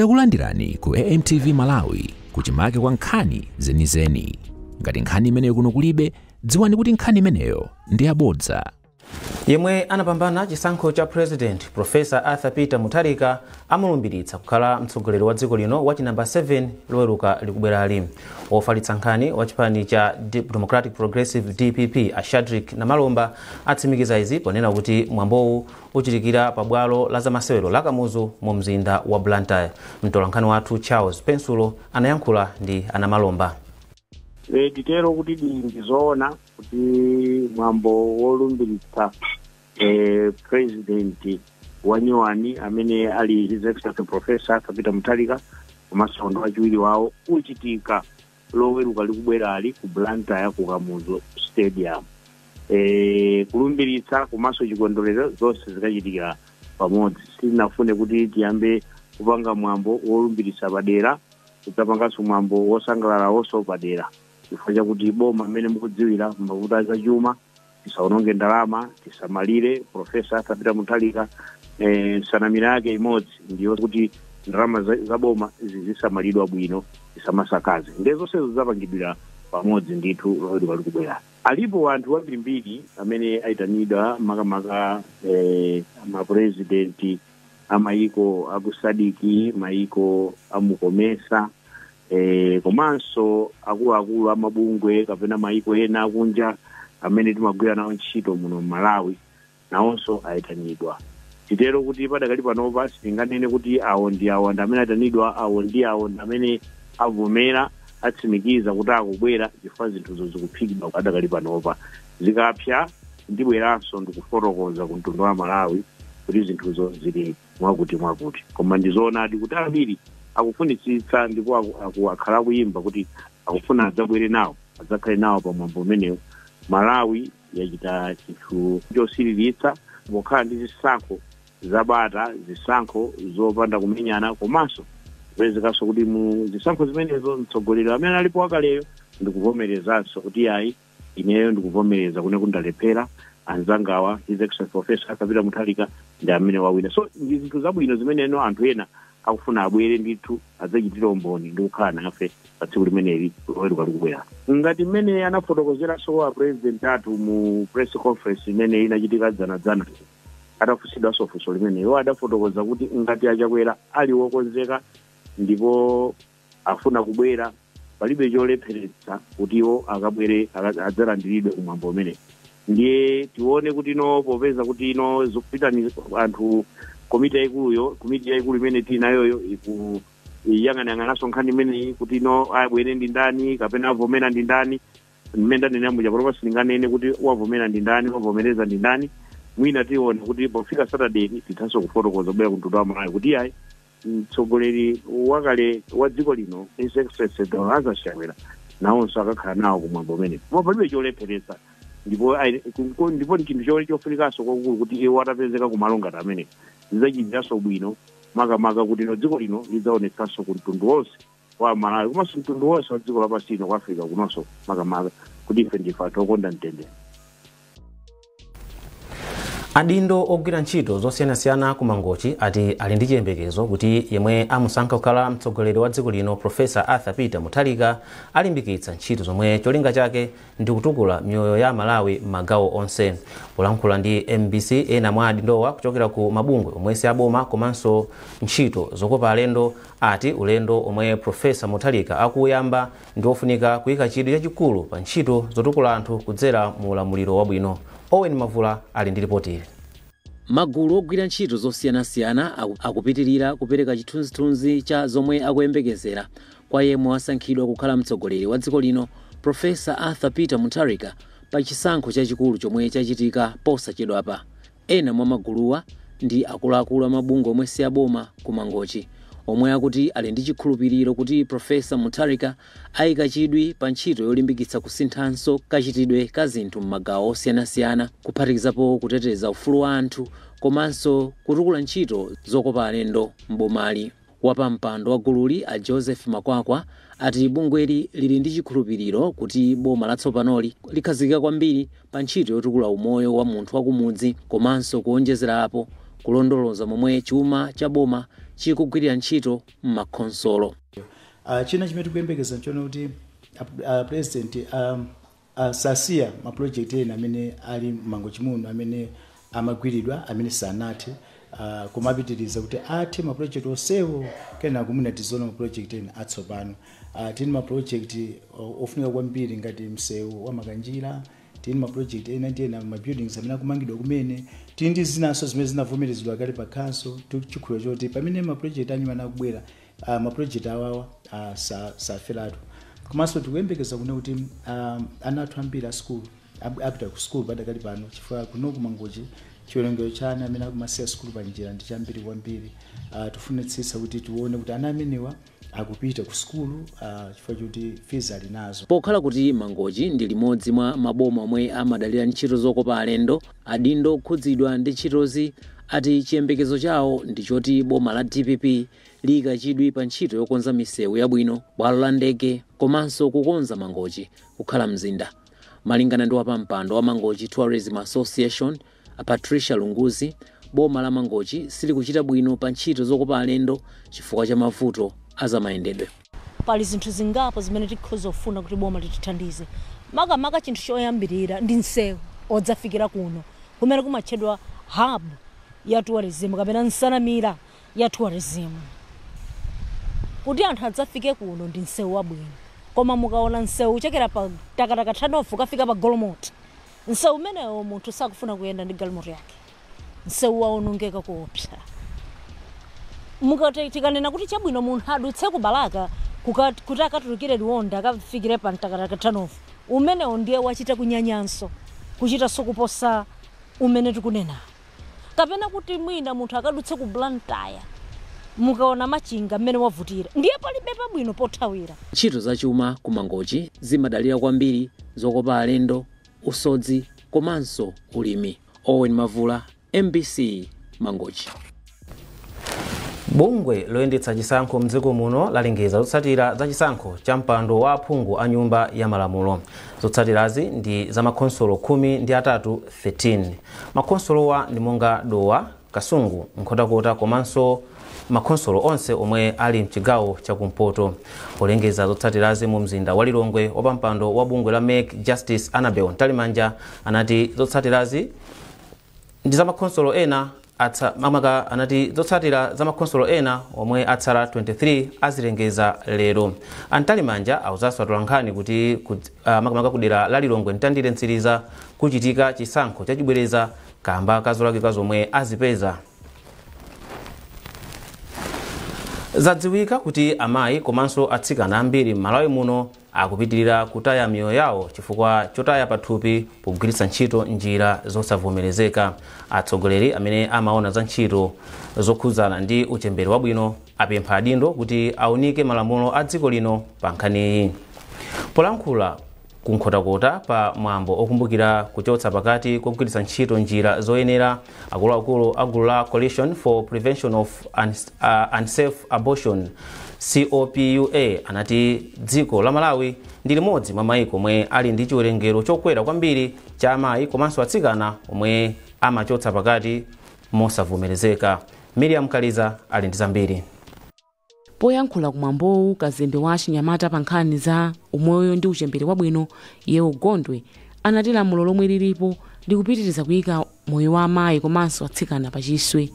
Takulandirani ku AMTV Malawi kuchimake kwa nkhani zenizeni. Ngati nkhani imeneyo kuno kulibe, dziwani kuti nkhani imeneyo ndi yabodza. yemwe anapambana chisankho cha president profesa arthur peter mutharika amulumbiritsa kukhala mtsogoleri wa dziko lino wa chinamba 7 loweruka likubwerali ofalitsa nkhani wa chipani cha democratic progressive dpp a shadrick namalomba atsimikiza izi ponena kuti mwambowu Uchitikira pa bwalo la zamasewero la Kamuzu mu mzinda wa Blantyre, mtolankhani wathu Charles Pensulo anayankhula ndi a Namalomba. E, titero kuti di ndi zoona kuti mwambo wolumbiritsa e, president wanyuwani amene ali his excellency professor Arthur Peter Mutharika komanso ndi wachiwiri wawo uchitika loweruka likubwerali ku Blantyre ku Kamuzu Stadium. E, kulumbiritsa komanso chikondwerero zonse zikachitikira pamodzi. Sitinafune kuti tiyambe kupanga mwambo wolumbiritsa padera kudzapanganso mwambo wosangalalawonso padera chifukwa chakuti boma mmene mukudziwira mavuto a zachuma tisaononge ndalama tisamalire profesa Arthur Peter Mutharika eh, nsanamira yake imodzi ndiyo kuti ndalama za- za boma zizisamalidwa bwino tisamasakaze nde zonsezo zidzapangidwira pamodzi ndithu loweruka likubwera alipo anthu ambirimbiri amene ayitanidwa makamaka eh, mapurezidenti amayiko a ku SADC mayiko a mu COMESA eh, komanso akuluakulu a mabungwe kapena mayiko ena akunja amene timagwira nawo ntchito muno m'malawi nawonso ayitanidwa titero kuti padakali panopa sitinganene kuti awo ndi awo ndi amene ayitanidwa awo ndi awo ndi amene avomera atsimikiza kuti akubwera chifukwa zinthuzo zikuphikidwa padakali panopa zikapsa ndibweranso ndikufotokoza ku mtundu wa malawi kuti zinthuzo zili mwakutimwakuti. Koma ndi zoonadi kuti ambiri akufunitsitsa ndipo aku- aku- akhala akuyimba kuti akufuna adzabwere nawo adzakhale nawo pa mwambo umenewo. Malawi yachita chinthu chosiriritsa pokhala ndi zisankho zabata, zisankho zopanda kumenyana komanso kupezekanso kuti mu zisankho zimenezo mtsogoleri amene alipo wakaleyo ndikuvomerezanso kuti ayi ineyo ndikuvomereza kunena kuti ndalephera anzangawa his excellency professor Arthur Peter Mutharika ndi amene wawina so ndi zinthu zabwino zimeneno anthu ena akufuna abwere ndithu adzachitire umboni ndi kukhala nafe pa tsiku limeneli loweruka likubwera ngati mmene anafotokozeranso a president athu mu press conference imene inachitika dzanadzana atafunsidwanso funso limeneli iwo adafotokoza kuti ngati a Chakwera ali wokonzeka ndipo afuna kubwera palibe cholepheretsa kuti iwo akabwere aka- adzalandiridwe kumwambo umenewu ndiye tione kuti no popeza kuti no zikupitani anthu komiti yayikuluyo komiti yayikulu imene tili nayoyo ikuyang'anayang'ananso nkhani imeneyi kuti no abwere ndi ndani kapena avomera ndi ndani mmene ndanena muja panopa sindinganene kuti wavomera ndi ndani wavomereza ndi ndani mwina tione kuti pofika saturday tithanso kufotokoza kubwera kumtundu wa malawi kuti ayi Mtsogoleri wakale wa dziko lino His Excellency Dr Lazarus Chakwera nawonso akakhala nawo kumwambo umenewu koma palibe cholepheretsa ndipo ayi- ku- ku- ndipo ndi chinthu cho- chofunikanso kwakukulu kuti iwo atapezeka kumalo ngati amenewo zidzachitiranso bwino makamaka kuti no dziko lino lidzaonetsanso ku mtundu wonse wa Malawi komanso mtundu wonse wa dziko lapansi lino ku Africa kunonso makamaka kuti ife ndife anthu okonda mtendere. adindo ogwira ntchito zosiyanasiyana ku mangochi ati ali ndi chiyembekezo kuti yemwe amusankha kukhala mtsogoleri wa dziko lino profesa arthur peter mutharika alimbikitsa ntchito zomwe cholinga chake ndi kutukula miyoyo ya amalawi m'magawo onse polankhula ndi mbc ena mwa adindowa kuchokera ku mabungwe omwe si aboma komanso ntchito zokopa alendo ati ulendo omwe Prof Mutharika akuwuyamba ndi wofunika kuyika chidwi chachikulu pa ntchito zotukula anthu kudzera mu ulamuliro wabwino. Owen Mavula ali ndi lipoti ili. Magulu ogwira ntchito zosiyanasiyana akupitilira kupereka chithunzithunzi cha zomwe akuyembekezera kwa yemwe wasankhidwa kukhala mtsogoleri wa dziko lino Prof Arthur Peter Mutharika pa chisankho chachikulu chomwe chachitika posachedwapa. Ena mwa maguluwa ndi akuluakulu a mabungwe omwe si aboma ku Mangochi omwe akuti ali ndi chikhulupiliro kuti Prof Mutharika aika chidwi pa ntchito yolimbikitsa kusinthanso kachitidwe ka zinthu m'magawo osiyanasiyana kuphatikizapo kuteteza ufulu wa anthu komanso kutukula ntchito zokopa alendo m'bomali. Wapampando wa gululi a Joseph Makwakwa ati bungweli lili ndi chikhulupiliro kuti boma latsopanoli likhazikika kwambiri pa ntchito yotukula umoyo wa munthu wa kumudzi komanso kuonjezerapo, kulondoloza momwe chuma cha boma chikugwilira ntchito m'makhonsolo. China chimene tikuyembekeza nchoti a Pulezidenti a. Uh, sasiya ma project ena amene ali m'mangochi muno amene amagwiridwa amene sanathe uh, koma apitiriza kuti athe ma project onsewo kenako mwina tiziona ma project ena atsopano uh, tili ma project uh, ofunika kwambiri ngati msewu wa makanjira tili ma project ena ndi ena ma buildings amene akumangidwa kumene tili ndi zinanso zimene zinavomerezedwa kale pa council tikukhulupirira choti pamene ma project anyuwani akubwera uh, maprojekti awawa uh, sa- saferatu komanso tikuyembekeza kuno kuti um, ana athu ambiri a skulu ab- apita ku skulu padakali pano chifukwa kuno ku Mangochi chiwerengero cha ana amene akumasiya skulu pa njira ndi chambiri kwambiri uh, tifunitsitsa kuti tione kuti ana amenewa akupita ku skulu uh, chifukwa choti fees ali nazo pokhala kuti mangochi ndi limodzi mwa maboma omwe amadalira ntchito zokopa alendo adindo okhudzidwa ndi ntchitozi ati chiyembekezo chawo ndi choti boma la dpp liika chidwi pa ntchito yokonza misewu yabwino, bwalo la ndege komanso kukonza Mangochi kukhala mzinda. Malingana ndi wapampando wa Mangochi Tourism Association, a Patricia Lunguzi, boma la Mangochi silikuchita bwino pa ntchito zokopa alendo chifukwa cha mavuto a zamayendedwe. Pali zinthu zingapo zimene tikhoza kufuna kuti boma litithandize. Makamaka chinthu choyambirira ndi msewu wodzafikira kuno kumene kumatchedwa hub ya tourism kapena nsanamira ya tourism kuti anthu adzafike kuno ndi msewu wabwino koma mukaona msewu kuchokera pa mtakataka turnoff kukafika pa golomoti msewu umenewo munthu sakufuna kuyenda ndi galimoto yake msewu waonongeka kuopsa mukati tikanena kuti chabwino munthu adutse ku balaka kuka- kuti akatulukire liwonda akafikire pa mtakataka turnoff umenewo ndiye wachita kunyanyanso kuchitaso kuposa umene tikunena kapena kuti mwina munthu akadutse ku blantyre mukaona machinga mmene wavutira ndiye palibe pabwino pothawira Ntchito za chuma ku Mangochi zimadalira kwambiri zokopa alendo, usodzi komanso ulimi. Owen Mavula, mbc, Mangochi. bungwe loyendetsa chisankho mdziko muno lalengeza zotsatira za chisankho cha mpando wa aphungu a nyumba ya malamulo zotsatirazi ndi za makhonsolo khumi ndi atatu 13 makhonsolowa ndi monga dowa kasungu nkhotakota komanso makhonsolo onse omwe ali mchigawo chakumpoto polengeza zotsatirazi mu mzinda wa lilongwe wapampando wa bungwe la mec justice annabel mtalimanja anati zotsatirazi ndi zamakhonsolo ena atsa- makamaka anati zotsatira za makhonsolo ena omwe atsala 23 azilengeza lero a mtalimanja awuzanso atolankhani kuti kudz- ah, makamaka kudera la lilongwe mtandire mtsiriza kuchitika chisankho chachibwereza kamba ka zolakika zomwe azipeza zadziwika kuti amayi komanso atsikana ambiri m'malawi muno akupitilira kutaya miyoyo yawo chifukwa chotaya pathupi pogwiritsa ntchito njira zosavomerezeka atsogoleri amene amaona za ntchito zokhudzana ndi uchembere wabwino apempha adindo kuti aunike malamulo a dziko lino pa nkhaniyi polankhula ku nkhotakota pa mwambo okumbukira kuchotsa pakati kogwiritsa ntchito njira zoyenera Akuluakulu a gulu la Coalition for Prevention of Unsafe Abortion, COPUA, ati dziko la Malawi ndi limodzi mwa maiko omwe ali ndi chiwerengero chokwera kwambiri cha amayi komanso atsikana omwe amachotsa pakati mosavomerezeka. Miriam Kaliza ali ndi zambiri. Poyankhula ku mwambowu kazembe wa achinyamata pa nkhani za umoyo ndi uchembere wabwino Yewo Gondwe anati lamulo lomwe lilipo likupitiriza kuyika moyo wa amayi komanso atsikana pa chiswe.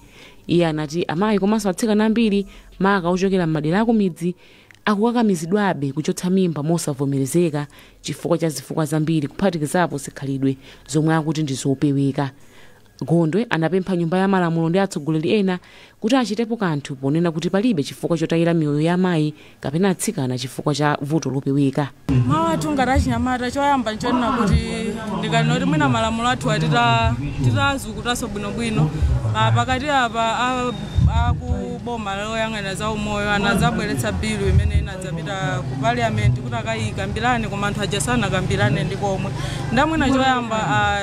Iye anati amayi komanso atsikana ambiri maka ochokera m'madera akumidzi akukakamizidwabe kuchotsa mimba mosavomerezeka chifukwa cha zifukwa zambiri kuphatikizapo zikhalidwe zomwe akuti ndizopeweka. Gondwe anapempha Nyumba ya Malamulo ndi atsogoleri ena kuti achitepo kanthu ponena kuti palibe chifukwa chotayira miyoyo ya amayi kapena atsikana chifukwa cha vuto lopeweka. Mawu athu ngati achinyamata choyamba nchonena kuti ndikanati mwina malamulo athuwa atazukutanso bwinobwino pakati apa a ku boma loyang'anira za umoyo anadzabweretsa bilu imene ina- dzapita ku parliament kuti akayikambirane koma anthu aja sanakambirane ndi komwe ndamwina choyamba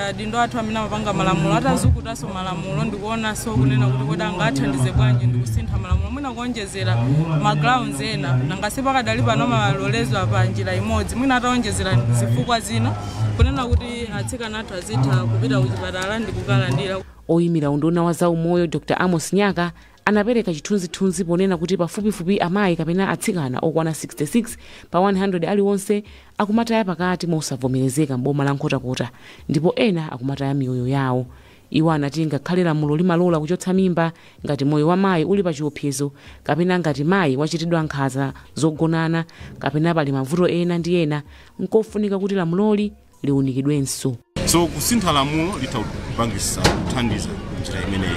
adindo athu amene amapanga malamulo atazukutanso malamulo ndikuonanso kunena kuti kodi angathandize bwanji ndikusintha malamulo mwina kuonjezera magrounds ena nanga si pakadali pano amaloleza pa njira imodzi mwina ataonjezera zifukwa zina kunena kuti atsikana athu azitha kupita kuchipatala ndikukalandira oyimira unduna wa zaumoyo dr amos nyaka anapereka chithunzithunzi ponena kuti pafupifupi amayi kapena atsikana okwana 66 pa 100 aliwonse akumataya pakati mosavomerezeka m'boma la Nkhotakota ndipo ena akumataya miyoyo yawo. Iwo anati ngakhale lamulo limalola kuchotsa mimba ngati moyo wa mayi uli pachiopsezo kapena ngati mayi wachitidwa nkhanza zogonana kapena pali mavuto ena ndi ena, n'kofunika kuti lamuloli liunikidwenso. So kusintha lamulo litha kupangisa kuthandiza njira imeneyi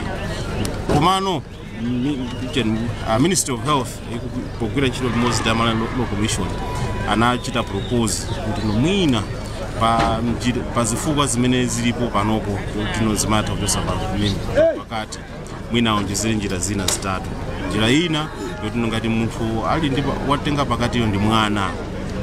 komano mi- chen- ah, ministry of health iku- pogwira ntchito limodzi ndi a Malawi Law- law commission anachita propose kuti mwina pa njira- pa zifukwa zimene zilipo panopo kuti no zimatha kuchosa pa mimba pakati mwina aonjezere njira zina zitatu njira ina yoti ngati munthu ali ndi pa- watenga pakatiyo ndi mwana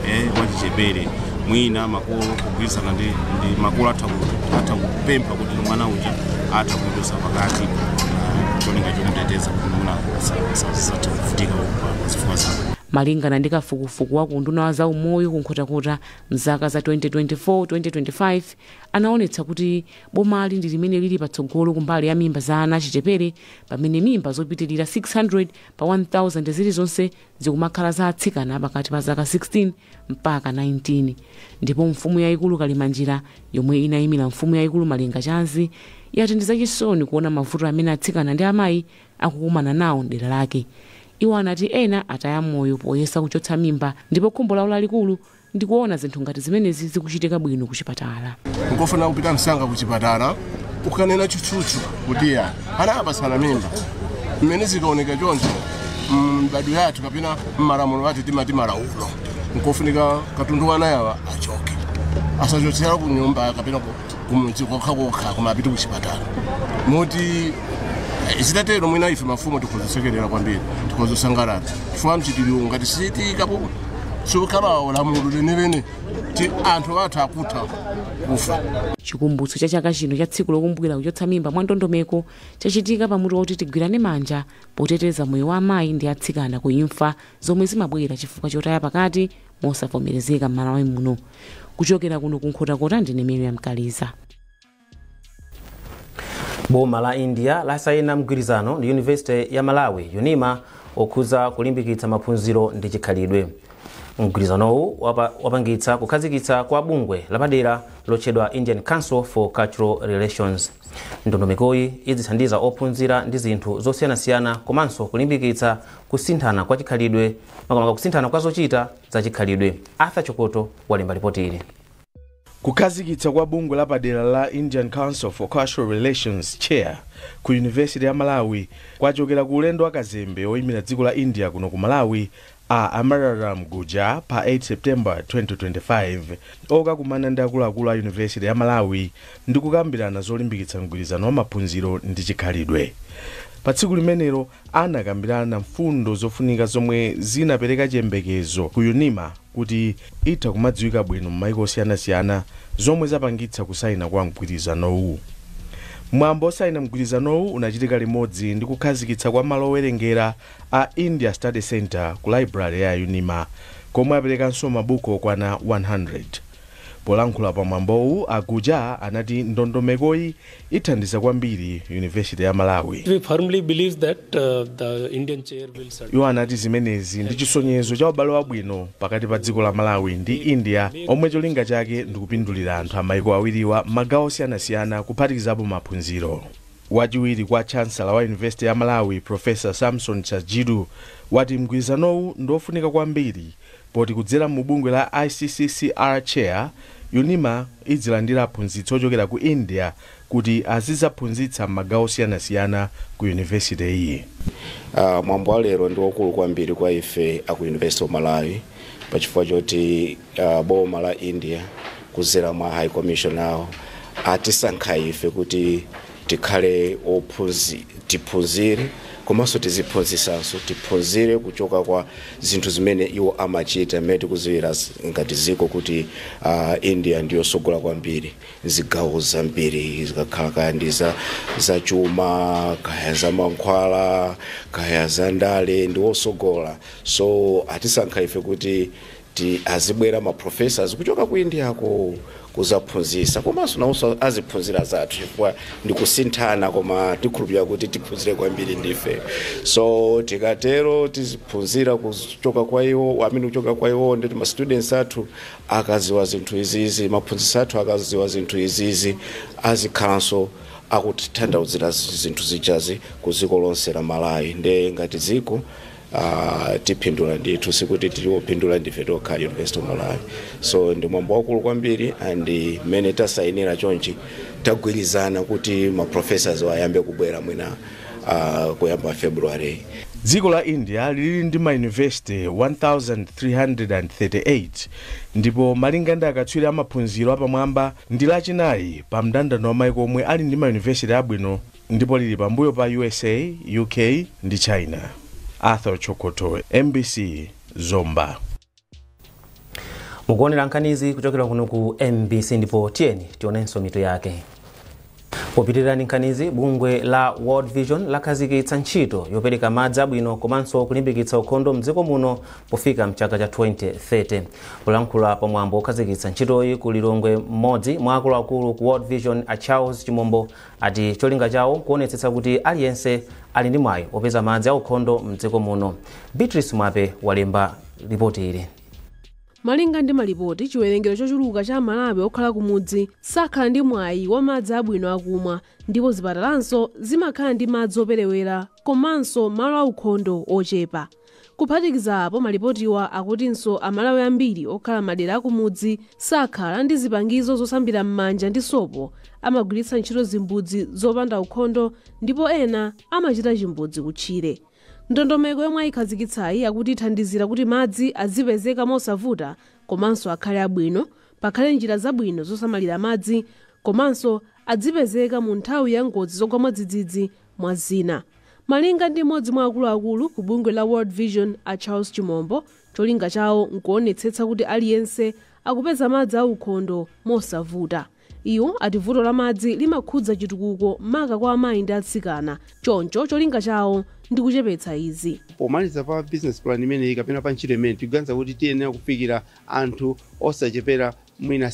eh, wachichepere mwina makolo kugwirizana ndi, ndi makolo atha ku- atha kupempha kuti mwana uja atha kuchotsa pakati ah, cholinga chomuteteza kuti mwina atha kuvutika pa zifukwa zake malingana ndi kafukufuku wa kunduna wa zaumoyo ku Nkhotakota mzaka za 2024-2025 anaonetsa kuti Bomali ndi limene lili patsogolo kumbali ya mimba za ana achichepere pamene mimba zopitirira 600 pa 1,000 zilizonse zikumakhala za atsikana apakati pa zaka 16 mpaka 19. Ndipo Mfumu Yaikulu Kalimanjira, yomwe inaimira Mfumu Yaikulu Malengachanzi, yati ndi zachisoni kuona mavuto amene atsikana ndi amayi akukumana nawo m'dera lake. Iwo anati ena ataya moyo poyesa kuchotsa mimba ndipo khumbo lawo lalikulu Ndikuona zinthu ngati zimenezi zikuchitika bwino kuchipatala. Nkofunika kupita msanga kuchipatala ukanena tchutchutchu kuti ya ana apatsana mimba. Mmene zikaoneka choncho m'mbadwo yathu kapena m'malamulo athu timati malaulo, nkofunika katundu wa anayawa achoke, asachotsera ku nyumba kapena ku kumudzi kokha kokha koma apite kuchipatala moti eh, zitatero mwina ife mafumu tikhoza kusekerera kwambiri tikhoza kusangalala chifukwa mchitiriwo ngati sichichitikapo chokhala lamulo lenileni ti anthu athu akutha kufa chikumbutso cha chaka chino cha tsiku lokumbukira kuchotsa mimba mwa ndondomeko chachitika pa mutu woti tigwirane manja poteteza moyo wa amayi ndi atsikana ku imfa zomwe zimabwera chifukwa chotaya pakati mosavomerezeka m'malawi muno kuchokera kuno ku nkhotakota ndine miriam kaliza boma la india lasayina mgwirizano ndi university ya malawi unima okhuza kulimbikitsa maphunziro ndi chikhalidwe mgwirizanowu wapangitsa kukhazikitsa kwa bungwe lapadera lotchedwa indian council for cultural relations ndondomekoyi idzithandiza ophunzira ndi zinthu zosiyanasiyana komanso kulimbikitsa kusinthana kwa chikhalidwe makamaka kusinthana kwa zochita za chikhalidwe. Arthur Chokoto walemba lipoti ili. kukhazikitsa kwa bungwe lapadera la indian council for cultural relations chair ku university ya malawi kwachokera ku ulendo wa kazembe oyimira dziko la india kuno ku malawi a amararam gujar pa 8 september 2025 okakumana ndi akuluakulu a university ya malawi ndi kukambirana zolimbikitsa mgwirizano wa maphunziro ndi chikhalidwe pa tsiku limenelo anakambirana mfundo zofunika zomwe zinapereka chiyembekezo ku unima kuti itha kumadziwika bwino m'maiko osiyanasiyana zomwe zapangitsa kusayina kwa mgwirizanowu. Mwambo osayina mgwirizanowu unachitika limodzi ndi kukhazikitsa kwa malo owerengera a India Study Centre ku Library ya unima komwe aperekanso mabuku okwana 100. Polankhula pa mwambowu, a Gujar anati ndondomekoyi Ithandiza kwambiri University ya Malawi. We firmly believe that uh, the Indian chair will certainly. Iwo anati zimenezi ndi chisonyezo cha ubale wabwino pakati pa dziko la Malawi ndi India omwe cholinga chake ndi kupindulira anthu a maiko awiriwa m'magawo osiyanasiyana kuphatikizapo maphunziro. Wachiwiri kwa chansala wa University ya Malawi Profesa Samson Sajidu wati mgwirizanowu ndi wofunika kwambiri Poti kudzera mu bungwe la ICCCR Chair, UNIMA idzilandira aphunzitsi ochokera ku India kuti azidzaphunzitsa m'magawo osiyanasiyana ku University yi. Mwambo wa lero ndi waukulu kwambiri kwa ife a ku University of Malawi pa chifukwa choti boma la India kudzera mwa High Commission awo atisankha ife kuti, Tikhale oph, tiphunzire komanso tiziphunzisanso, tiphunzire kuchoka kwa zinthu zimene iwo amachita mmene tikuziwira ngati dziko kuti India ndiyosogola kwambiri zigawo zambiri zikakhala kaya ndi za za chuma kaya za mankhwala kaya za ndale ndiwosogola so atisankha ife kuti azibwera ma professors kuchoka ku Indiako kuzaphunzisa komanso nawonso aziphunzira zathu chifukwa ndikusinthana koma tikhulupirira kuti tiphunzire kwambiri ndife so tikatero tiziphunzira kuchoka kwa iwo amene kuchoka kwa iwo ndi ma students athu akaziwa zinthu izizi maphunzitsi athu akaziwa zinthu izizi azikhalanso akutithandauzira zinthu zijazi ku dziko lonse la Malawi nde ngati dziko Uh, tipindula ndithu sikuti tili opindula ndife tokha University of Malawi so ndi mwambo wakulu kwambiri and mmene tasayinira chonchi tagwirizana kuti maprofessors ayambe kubwera mwina uh, kuyamba February dziko la India lili ndi mayunivesite 1338 ndipo malinga ndi akatswiri amaphunziro apamwamba ndi lachinayi pa mndandanda wa maiko omwe ali ndi mayunivesite abwino ndipo lili pambuyo pa USA, UK ndi China. Arthur Chokoto, MBC, Zomba. mukuonera nkhanizi kuchokera kuno ku MBC ndipo tiyeni tionenso mitu yake popitiriza nkhanizi bungwe la World Vision lakhazikitsa ntchito yopereka madzi abwino komanso kulimbikitsa ukhondo mdziko muno pofika mchaka cha 2030 kulankhula pa mwambo wokhazikitsa ntchitoyi ku Lilongwe mmodzi mwa akuluakulu ku World Vision a Charles Chimombo ati cholinga chawo nkuonetsetsa kuti aliyense ali ndi mwayi opeza madzi aukhondo mdziko muno. Beatrice Mwape walemba lipoti ili. malinga ndi malipoti chiwerengero chochuluka cha Amalawi okhala kumudzi sakhala ndi mwayi wa madzi abwino akumwa ndipo zipatalanso zimakhala ndi madzi operewera komanso malo aukhondo ochepa Kuphatikiza apo, malipotiwa akutinso Amalawi ambiri okhala m'madera akumudzi sakhala ndi zipangizo zosambira m'manja ndi sopo, amagwiritsa ntchito zimbudzi zopanda ukhondo ndipo ena amachita chimbudzi kutchire. Ndondomeko yomwe ayikhazikitsayi akuti ithandizira kuti madzi azipezeka mosavuta komanso akhale abwino, pakhale njira zabwino zosamalira madzi komanso adzipezeka mu nthawi ya ngozi zogwa mwadzidzidzi, mwa zina. Malinga ndi m'modzi mwa akuluakulu ku bungwe la World Vision a Charles Chimombo, cholinga chawo nkuonetsetsa kuti aliyense akupeza madzi a ukhondo mosavuta. Iwo ati vuto la madzi limakhudza chitukuko maka kwa amayi ndi atsikana, choncho cholinga chawo ndi kuchepetsa izi. Pomaliza pa business plan imeneyi kapena pa ntchito imeneyi tikuganiza kuti tiyenera kufikira anthu osachepera mwina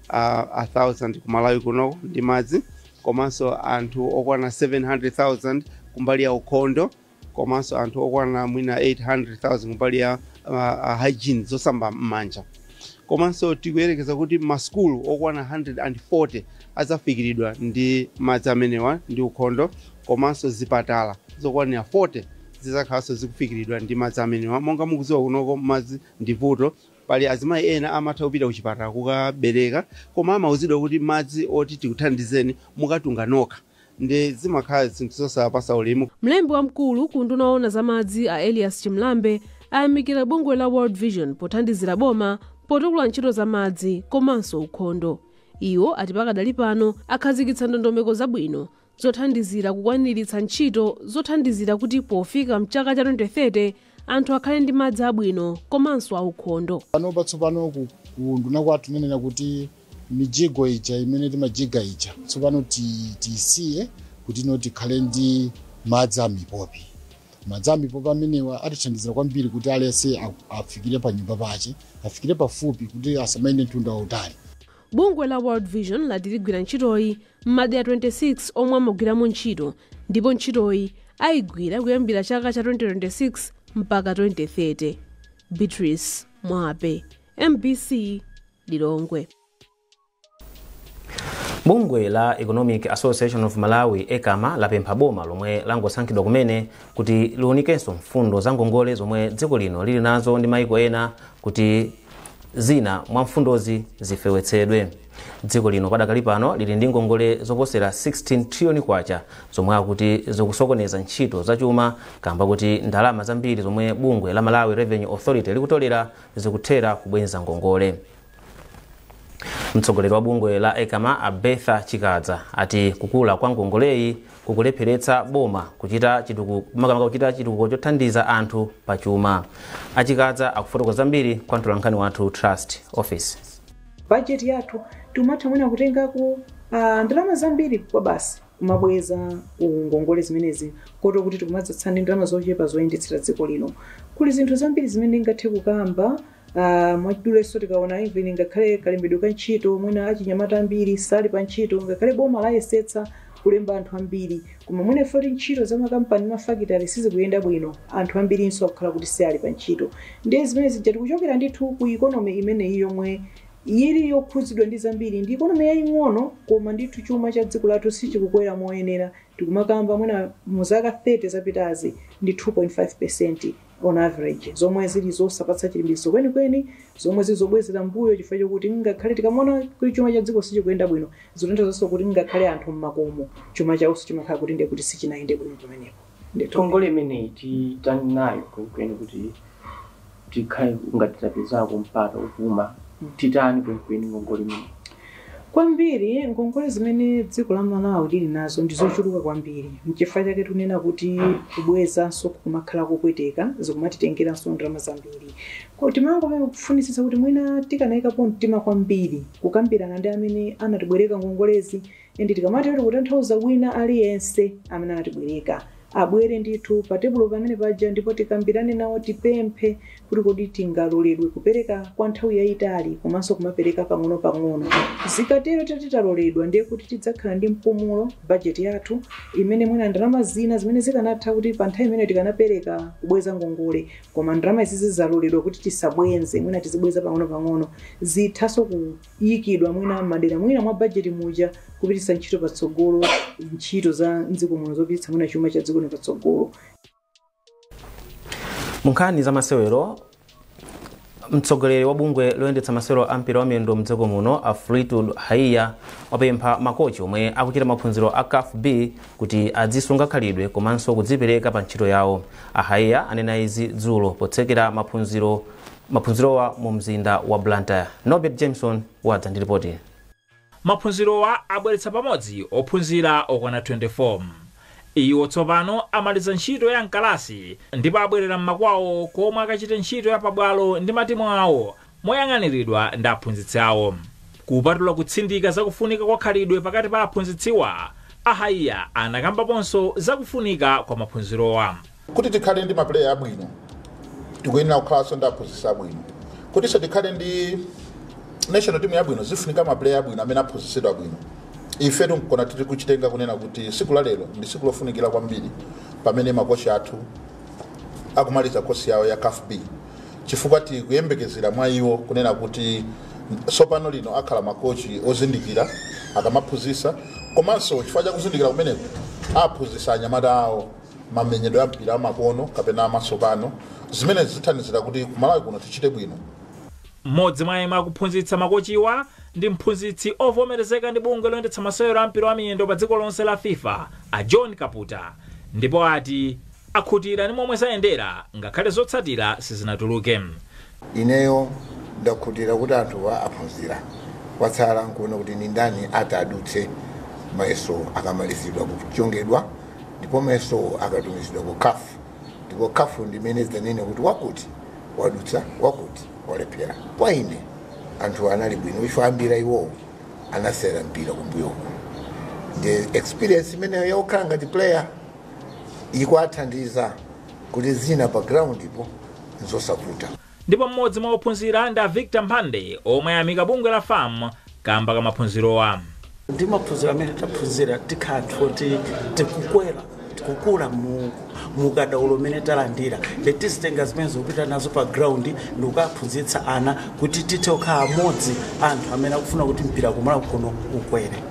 600,000 ku Malawi kunoko ndi madzi komanso anthu okwana 700,000 kumbali ya ukhondo komanso anthu okwana mwina 800,000 kumbali ya uh, uh, hygiene zosamba m'manja komanso tikuyerekeza kuti masukulu okwana 140 adzafikiridwa ndi madzi amenewa ndi ukhondo komanso zipatala zokwanira 40 zizakhalanso zikufikiridwa ndi madzi amenewa monga mukudziwa kunoko madzi ndi vuto Pali azimayi ena amatha kupita kuchipatala kukabereka koma amauzidwa kuti madzi oti tikuthandizeni mukatunge nokha nde zimakhala zinthu zosapasa ulemu. Mlembi wamkulu ku unduna oona za madzi a Elias Chimulambe ayamikira bungwe la World Vision pothandizira boma potukula ntchito za madzi komanso ukhondo. Iwo ati pakadali pano akhazikitsa ndondomeko zabwino zothandizira kukwaniritsa ntchito zothandizira kuti pofika mchaka cha 2030 anthu akhale ndi madzi abwino komanso aukhondo. panopa tsopano ku unduna kwathu tinanena kuti mijigo ija imene timajiga ija tsopano tiyisiye kuti tsono tikhale ndi madzi amipopi madzi amipopi amenewa atithandizira kwambiri kuti aliyense a- afikire pa nyumba pache afikire pafupi kuti asamayende mtunda wautali Bungwe la World Vision lati ligwira ntchitoyi m'madera 26 omwe amagwiramo ntchito ndipo ntchitoyi ayigwira kuyambira chaka cha 2026 mpaka 2030. Beatrice Mwape, mbc Lilongwe. bungwe la economic association of malawi ecama lapempha boma lomwe langosankhidwa kumene kuti liunikenso mfundo za ngongole zomwe dziko lino lili nazo ndi maiko ena kuti zina mwa mfundozi zifewetsedwe. Dziko lino padakali pano lili ndi ngongole zoposera 16 trillion kwacha zomwe akuti zikusokoneza ntchito zachuma kamba kuti ndalama zambiri zomwe bungwe la Malawi Revenue Authority likutolera zikuthera kubwenza ngongole. Mtsogoleri wa bungwe la Ecama a Bertha Chikadza ati kukula kwa ngongoleyi kukulepheretsa boma kuchita makamaka kuchita chitukuko chothandiza anthu pa chuma a Chikadza akufotokoza zambiri kwa mtolankhani wathu Trust Ofesi budget yathu tikumatha mwina kutengako ndalama zambiri kwabasi kumabweza ngongole zimenezi kotero kuti tikumadzatsala ndi ndalama zochepa zoyendetsera dziko lino kuli zinthu zambiri zimene ndingathe kukamba Uh, mwachiduleso tikaona even ngakhale kalembedwe ka ntchito mwina achinyamata ambiri sali pa ntchito ngakhale boma layesetsa kulemba anthu ambiri koma mwina poti ntchito za makampani mafakitale sizikuyenda bwino anthu ambirinso akukhala kuti sali pa ntchito ndiye zimene zija tikuchokera ndithu ku ikonomi imeneyi yomwe yili yokhudzidwa ndi zambiri ndi ikonomi yaying'ono koma ndithu chuma cha dziko lathu sichikukwera moyenera tikumakamba mwina mu zaka 30 zapitazi ndi 2.5 percent on average, zomwe zili zosapatsa chilimbikitso kwenikweni, zomwe zili zobwezera m'mbuyo chifukwa chokuti ngakhale tikamaona kuti chuma cha dziko sichikuyenda bwino, zikutanthauzaso kuti ngakhale anthu m'makomo chuma chawoso chimakhala kuti ndiye kuti sichinayende bwino pamenepo. Ndithu. ngongole imeneyi titani nayo kwenikweni kuti tikhale ngati tapezako mpata wopuma titani kwenikweni ngongole imeneyi kwambiri ngongole zimene dziko la Malawi lili nazo ndi zochuluka kwambiri mchifukwa chake tikunena kuti kubwezanso kukumakhala kopweteka zikumatitengeranso ndalama zambiri koti timangofunitsitsa kuti mwina tikanayikapo mtima kwambiri kukambirana ndi amene anatibwereka ngongolezi and tikamatero tikutanthauza wina aliyense amene anatibwereka abwere ndithu patebulo pamene paja ndipo tikambirane nawo, tipemphe kuti kodi tingaloledwe kupereka kwa nthawi yayitali komanso kumapereka pang'onopang'ono. Zikatero titati taloledwa ndiye kuti tidzakhala ndi mpumulo bajeti yathu imene mwina ndalama zina zimene zikanatha kuti pa nthawi imeneyo tikanapereka kubweza ngongole koma ndalama izi zizaloledwa kuti tisabwenze mwina tizibweza pang'onopang'ono zithanso ku ikidwa mwina m'madera mwina mwa bajeti muja kupititsa ntchito patsogolo ntchito za mdziko muno zopititsa mwina chuma cha dziko lino patsogolo munkhani za masewero mtsogoleri wa bungwe loyendetsa masewero a mpira wa miyendo mdziko muno a Fleetwood Haiya wapempha makochi omwe akuchita maphunziro a CAF B kuti adzisunga khalidwe komanso kudzipereka pa ntchito yawo a Haiya anena izi dzulo potsekera maphunziro maphunzirowa mu mzinda wa Blantyre. Norbert Jameson wadza ndi lipoti ili. Maphunzirowa abweretsa pamodzi ophunzira okwana 24. Iwo tsopano amaliza ntchito ya mkalasi ndipo abwerera mmakwawo komwe akachite ntchito ya pabwalo ndi matimu awo moyang'aniridwa ndi aphunzitsi awo. Kupatula kutsindika za kufunika kwa khalidwe pakati pa aphunzitsiwa, a Haiya anakambaponso za kufunika kwa maphunzirowa. Kuti tikhale ndi mapuleya abwino, tikuyenera kukhalanso ndi aphunzitsi abwino. Kutinso tikhale ndi national team yabwino, zifunika mapuleya abwino amene aphunzitsidwa bwino. Ifetu nkona tiri kuchitenga kunena kuti tsiku la lero ndi tsiku lofunikira kwambiri pamene makochi athu akumaliza kosi yawo ya CAF B chifukwa tikuyembekezera mwa iwo kunena kuti tsopano lino akhala makochi ozindikira akamaphunzitsa komanso chifukwa cha kuzindikira kumeneko aphunzitsa anyamata awo mamenyedwe a mpira amakono kapena amatsopano zimenezi zithandizira kuti kumalawi kuno tichite bwino. M'modzi mwa yemwe akuphunzitsa makochiwa ndi mphunzitsi ovomerezeka ndi bungwe loyendetsa masewero a mpira wa miyendo pa dziko lonse la fifa a John Kaputa ndipo ati akhutira ndi momwe zayendera ngakhale zotsatira sizinatuluke. Ineyo ndakhutira kuti anthuwa aphunzira. Kwatsala n'kuona kuti ndi ndani atadutse mayesowo akamalizidwa kuchongedwa ndipo mayesowo akatumizidwa ku caf ndipo caf ndi imene idzanene kuti wakuti wadutsa, wakuti walephera. Kwa ine anthuwa anali bwino chifukwa ambiri a iwowo anasewera mpira kumbuyoku ndiye experience imeneyo ya kukhala ngati player ikuwathandiza. kuti zina pa ground ipo nzosavuta. Ndipo m'modzi mwa ophunzira ndi a Victor Mphande omwe ayamika bungwe la fam kamba ka maphunzirowa. Ndi maphunziro amene taphunzira tikhala anthu oti tikukwera tikukula mu mukadaulo umene talandira nde tizitenga zimenezo kupita nazo pa ground ndi kukaphunzitsa ana kuti tithe kukhala amodzi a anthu amene akufuna kuti mpira kumalawi kuno ukwere.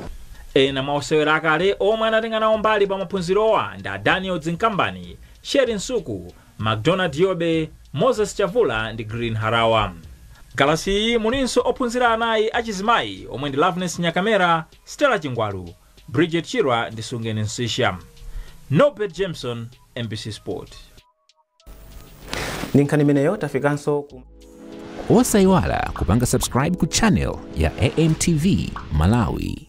Ena mwa osewera akale omwe anatenga nawo mbali pa maphunzirowa ndi a Daniel Dzinkambani, Sherry Msuku, Macdonald Yobe, Moses Chavula ndi Green Harawa. M'kalasiyi mulinso ophunzira anayi achizimayi omwe ndi Loveness Nyakamera, Stella Chingwalu, Bridget Chirwa ndi Sungeni Msiska. Norbert Jameson, mbc Sport. ndi nkhani imeneyo tafikanso ku osayiwala kupanga subscribe ku channel ya amtv malawi